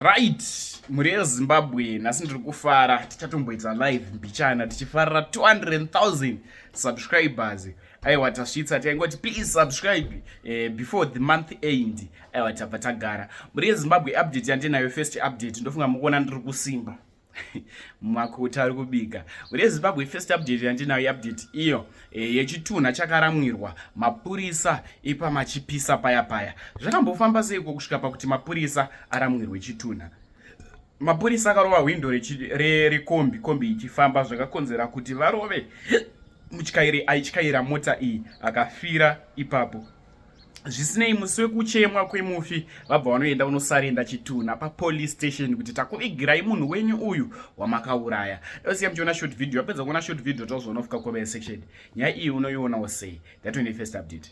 Right, mhuri yezimbabwe nhasi ndiri kufara tichatomboita live mbichana tichifarira 200000 subscribers aiwa tasvitsa taingoti please subscribe eh, before the month end aiwa tabva tagara mhuri yezimbabwe update yandinayo first update ndofunga mukuona ndiri kusimba makuta ari kubika ure zimbabwe first update yandinayo update iyo e, yechitunha chakaramwirwa mapurisa ipa machipisa paya paya zvakambofamba seiko kusvika pakuti mapurisa aramwirwe chitunha mapurisa akarova hwindo rekombi kombi ichifamba zvakakonzera kuti varove mutyairi aityaira mota iyi akafira ipapo zvisinei musi wekuchemwa kwemufi vabva vanoenda unosarenda chitunha papolice station kuti takuvigirai munhu wenyu uyu wamakauraya dosiya muchiona short video vapedza kuona short video tozoona kufika comment section nyaya iyi unoionawo sei that when first update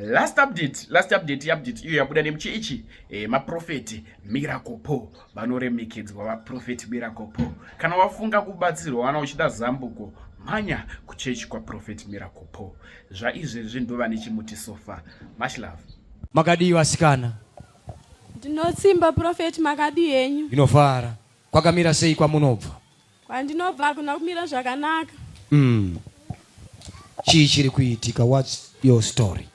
last update last update update iyo yabuda nemuchi ichi eh, maprofeti miracle po vanoremekedzwa vaprofeti miracle po kana wafunga kubatsirwa wana uchida zambuko mhanya kuchechi kwaprofeti miracle po zvaizvezvi ndova nechimuti sofa much love makadii vasikana ndinotsimba profeti makadii henyu inofara kwakamira sei kwamunobva Kwandinobva hakuna kumira zvakanaka. Mm. Chii chiri kuitika? What's your story?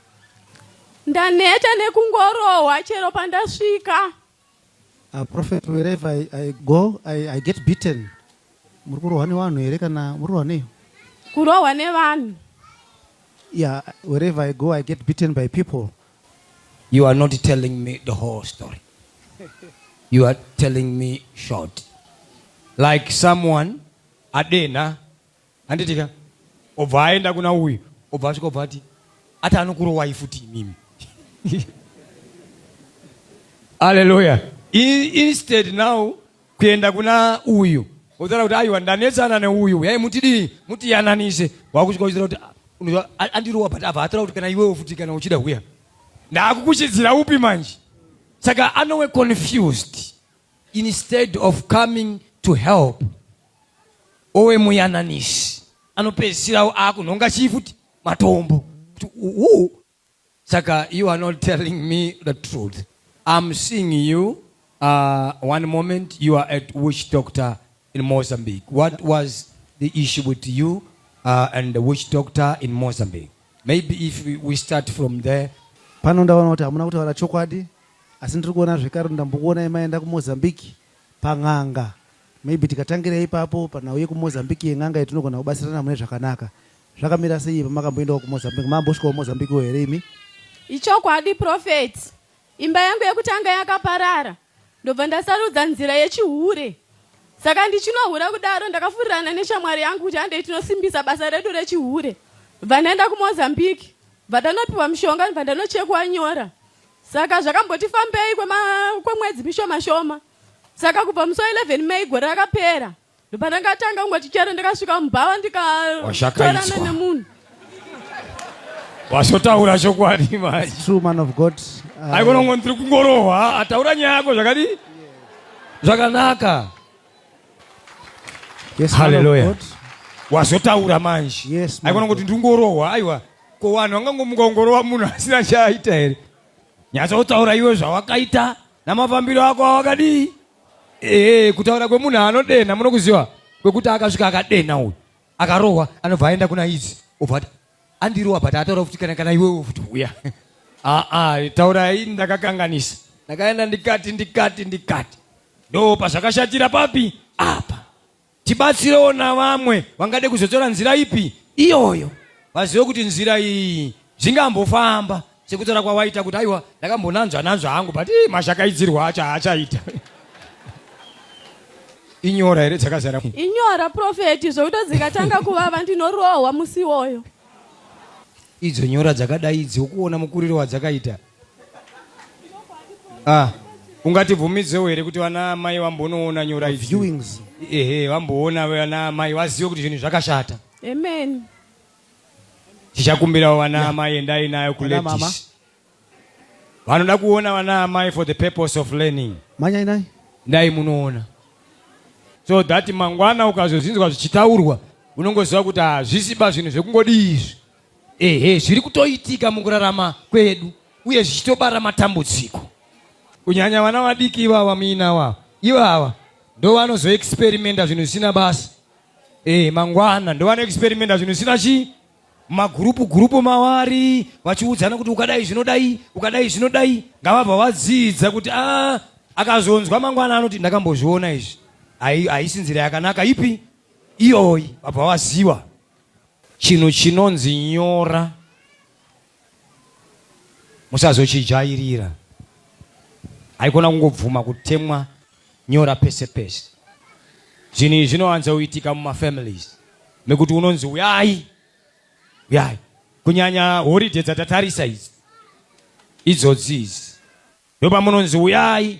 Ndaneta nekungorohwa chero pandasvika. A prophet wherever I, I go I, I get beaten. Muri kurohwa nevanhu here kana muri kurohwa nei? Kurohwa nevanhu. Yeah, wherever I go I get beaten by people. You are not telling me the whole story. You are telling me short. Like someone adena anditika obva aenda kuna uyu obva asvika obva ati ati anokurowai futi imimi Hallelujah. In, instead now kuenda kuna uyu wotaura kuti aiwa ndanetsana neuyu huyai mutidii mutiyananise wakusvika uchitaura kuti unoziva andirowa but abva ataura kuti kana iwewo futi kana uchida huya ndaakukuchidzira upi manje saka anowe confused instead of coming to help owe muyananisi anopedzisirawo akunhonga chii futi matombo kuti uu saka you are not telling me the truth i'm seeing you uh, one moment you are at witch doctor in mozambique what was the issue with you uh, and the witch doctor in mozambique maybe if we, we start from there pano ndaona kuti hamuna kutaura chokwadi asi ndiri kuona zvekare ndambokuonai maenda kumozambique pan'anga maybe tikatangira ipapo panhauye kumozambique yen'anga iyo tinogona kubatsirana mune zvakanaka zvakamira sei pamakamboendawo kumozambique mambosvikawo mozambiqueo here imi ichokwadi profeti imba yangu yekutanga yakaparara ndobva ndasarudza nzira yechihure saka ndichinohura kudaro ndakafurirana neshamwari yangu kuti handei tinosimbisa basa redu rechihure bva ndaenda kumozambique bva ndanopiwa mushonga bva ndanochekwa nyora Saka zvakamboti fambei kwemwedzi mishoma shoma. Saka kubva musi wa 11 May gore rakapera ndopandangatanga kungoti chero ndakasvika mubhawa ndikatorana nemunhu wasotaura chokwadi mai true man of god uh, aikona kungo ndiri kungorohwa ataura nyaya yako zvakadi zvakanaka yes, haleluya wazotaura manje yes, aikona kuti ndiri kungorohwa aiwa Ko vanhu vangangomuka kungorova munhu asina chaaita here? Nyatsotaura iwe zvawakaita namafambiro ako awakadii? Ehe, kutaura kwemunhu anodenha munokuziva kwekuti akasvika akadenha uyu akarohwa anobva aenda kuna izi obva ati andirowa but ataura kuti kana kana iwewe futi uya aa ah, ah, taura ini ndakakanganisa ndakaenda ndikati ndikati ndikati ndo pazvakashatira papi apa Tibatsirewo navamwe vangade kuzotora nzira ipi iyoyo vazive kuti nzira iyi zvingambofamba sekutaura kwawaita kuti aiwa ndakambonanzva nanzva hangu but mashakaidzirwa acho haachaita inyora here dzakazara inyora profeti zvokuto dzikatanga kuvava ndinorohwa musi iwoyo idzo nyora dzakadai idzi ukuona mukuriro wadzakaita Ah, ungatibvumidzewo here kuti vana amai vambonoona nyora idzi? Viewings. Ehe, vamboona vana amai vazive kuti zvinhu zvakashata. Amen. Tichakumbirawo vana amai endai nayo Vana mama. kuladies. Vanoda kuona vana amai for the purpose of learning. Manyai nai. Dai munoona. So that mangwana ukazozvinzwa zvichitaurwa unongoziva kuti hazvisiba zvinhu zvekungodii izvi. ehe zviri kutoitika mukurarama kwedu uye zvichitobara matambudziko kunyanya vana vadiki ivava muina wavo ivava ndovanozoexperimenta zvinhu zvisina basa e, mangwana ndovanoexperimenta zvinhu zvisina chii magurupu gurupu mavari vachiudzana kuti ukadai zvinodai ukadai zvinodai ngavabva vadzidza kuti a ah, akazonzwa mangwana anoti ndakambozviona izvi haisinzira yakanaka ipi iyoyi vabva vaziva Chinhu chinonzi nyora musazochijairira. Haikona kungobvuma kutemwa nyora pese pese. Zvinhu izvi zvinowanza kuitika mumafamilies mekuti unonzi uyai uyai, kunyanya holiday dzatatarisa idzi idzodzi idzi ndopamunonzi uyai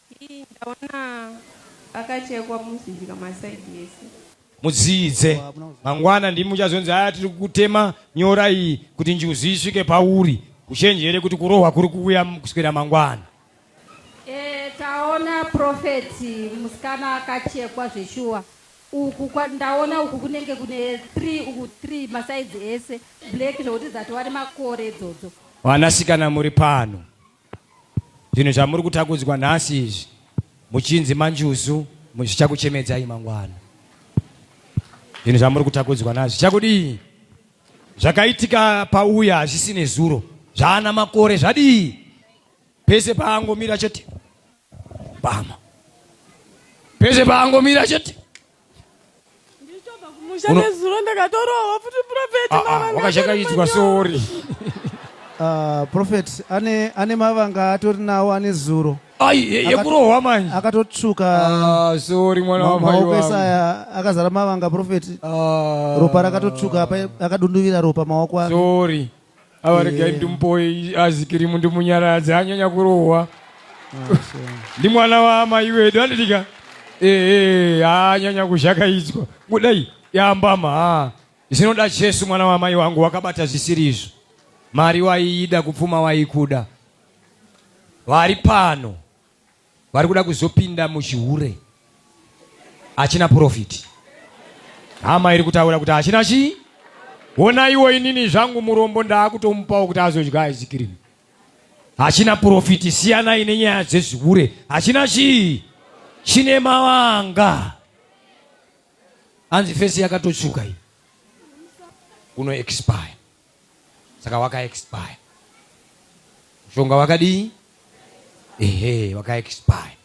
Hii ndaona akachekwa musika maside ese. Mudziidze. Mangwana ndimi muchazonzi aya tiri kutema nyora iyi kuti njuzu isvike pauri. Uchenjere kuti kurohwa kuri kuuya kuswera mangwana. Eh, taona prophet musikana akachekwa zveshuwa. Uku kwa, ndaona uku kunenge kune 3 uku 3 masaizi ese black zvekuti dzatova nemakore idzodzo. Vanasikana muri pano. Zvinhu zvamuri kutakudzwa nhasi izvi muchinzi manjuzu zvichakuchemedzai mangwana. Zvinhu zvamuri kutakudzwa nazvo zvichakudii? Zvakaitika pauya hazvisi nezuro, zvaana makore zvadii? Pese paangomira chete pama, pese paangomira chete wakachakaidzwa sori Uh, prophet ane, ane mavanga atori nawo ane zuro yekurohwa manje akatotsvuka ah, sori mwana wamaoko ese aya akazara mavanga prophet ah. ropa rakatotsvuka akadunduvira ropa maoko ake sori ava regai ndimupoi azikirimu ndimunyaradzi anyanya kurohwa ndi mwana waamai wedu anditika ee anyanya kuzhakaidzwa kudai yambama ha zvinoda chesu mwana waamai wangu wakabata zvisiri izvo mari waiida kupfuma waikuda vari pano vari kuda kuzopinda muchihure achina profit hama iri kutaura kuti achina chii wonaiwo inini zvangu murombo ndaakutomupawo kuti azodya aizikirimi hachina profiti siyanai nenyaya dzezvihure hachina chii chine mavanga hanzi fesi yakatotsvuka iyi kuno expire saka waka expire mushonga wakadii ehe waka expire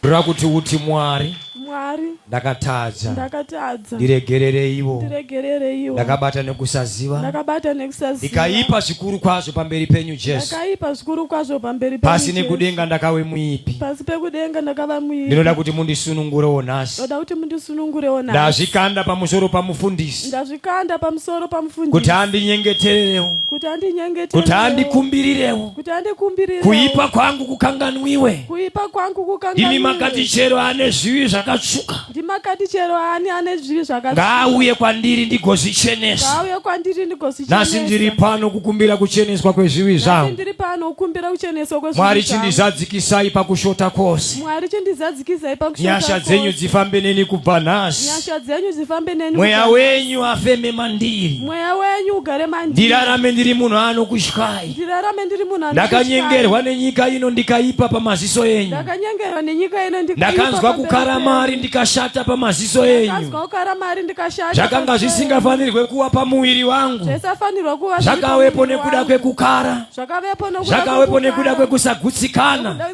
ndoda kuti uti mwari mwari ndakatadza ndakatadza ndiregerereiwo ndiregerereiwo ndakabata nekusaziva ndakabata nekusaziva ndikaipa zvikuru kwazvo pamberi penyu jesu ndakaipa zvikuru kwazvo pamberi penyu pasi nekudenga ndakave muipi pasi pekudenga ndakava muipi ndinoda kuti mundisunungurewo nhasi ndoda kuti mundisunungurewo nhasi ndazvikanda pamusoro pamufundisi kukanda pamusoro pamufundisi kuti andinyengetererewo kuti andinyengetererewo kuti andikumbirirewo kuti andikumbirirewo kuipa kwangu kukanganwiwe kuipa kwangu kukanganwiwe imi makati chero ane zvivi zvakatsvuka ndimakati chero ani ane zvivi zvakatsvuka ngaauye kwandiri ndigozvichenesa ngaauye kwandiri ndigozvichenesa nasi ndiri pano kukumbira kucheneswa kwezvivi zvangu ndiri pano kukumbira kucheneswa kwezvivi zvangu mwari chindizadzikisai pakushota kwose Mwari chindizadzikisai pakushota Nyasha kose. dzenyu dzifambe neni kubva nhasi. Nyasha dzenyu dzifambe neni Mweya kubva- wenyu afeme mandiri. Mweya wenyu ugare mandiri. Ndirarame ndiri munhu anokutyai. Ndirarame ndiri munhu anokutyai. Ndakanyengerwa nenyika ino ndikaipa pamaziso enyu. Ndakanyengerwa nenyika ino ndikaipa Ndakanzwa pamberi kukara penyu. mari ndikashata pamaziso enyu. Ndakanzwa kukara mari ndikashata Zvakanga pamberi penyu. zvisingafanirwe kuwa pamuviri wangu. Zvaisafanirwa kuva zviri Zvakawepo pamuviri nekuda wangu. kwekukara. Zvakavepo nokuda Zvakawepo kwekukara. nekuda kwekusagutsikana. Nokuda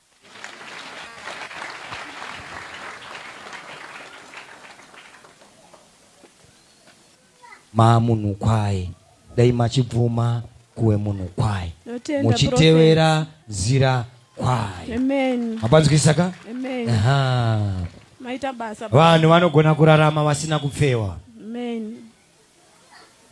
mamunhu kwaye dai machibvuma kuwe munhu kwaye muchitevera nzira kwaye mapanzwisa ka vanhu vanogona kurarama vasina kupfewa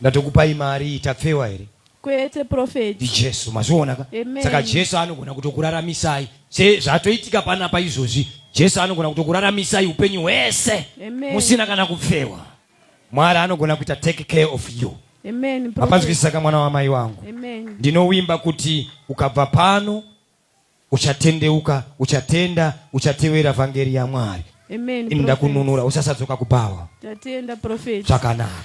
Ndatokupai mari iyi tapfewa here? Kwete prophet. NdiJesu mazviona ka? Amen. Saka Jesu anogona kutokuraramisai sezvatoitika panapa izvozvi. Jesu anogona kutokuraramisai upenyu hwese Amen. musina kana kupfewa. Mwari anogona kuita take care of you. Amen. Prophet. Mapanzwisisa ka mwana wamai wangu? Amen. Ndinovimba kuti ukabva pano uchatendeuka uchatenda uchatevera vhangeri yamwari ini ndakununura usasadzoka kubhawa zvakanaka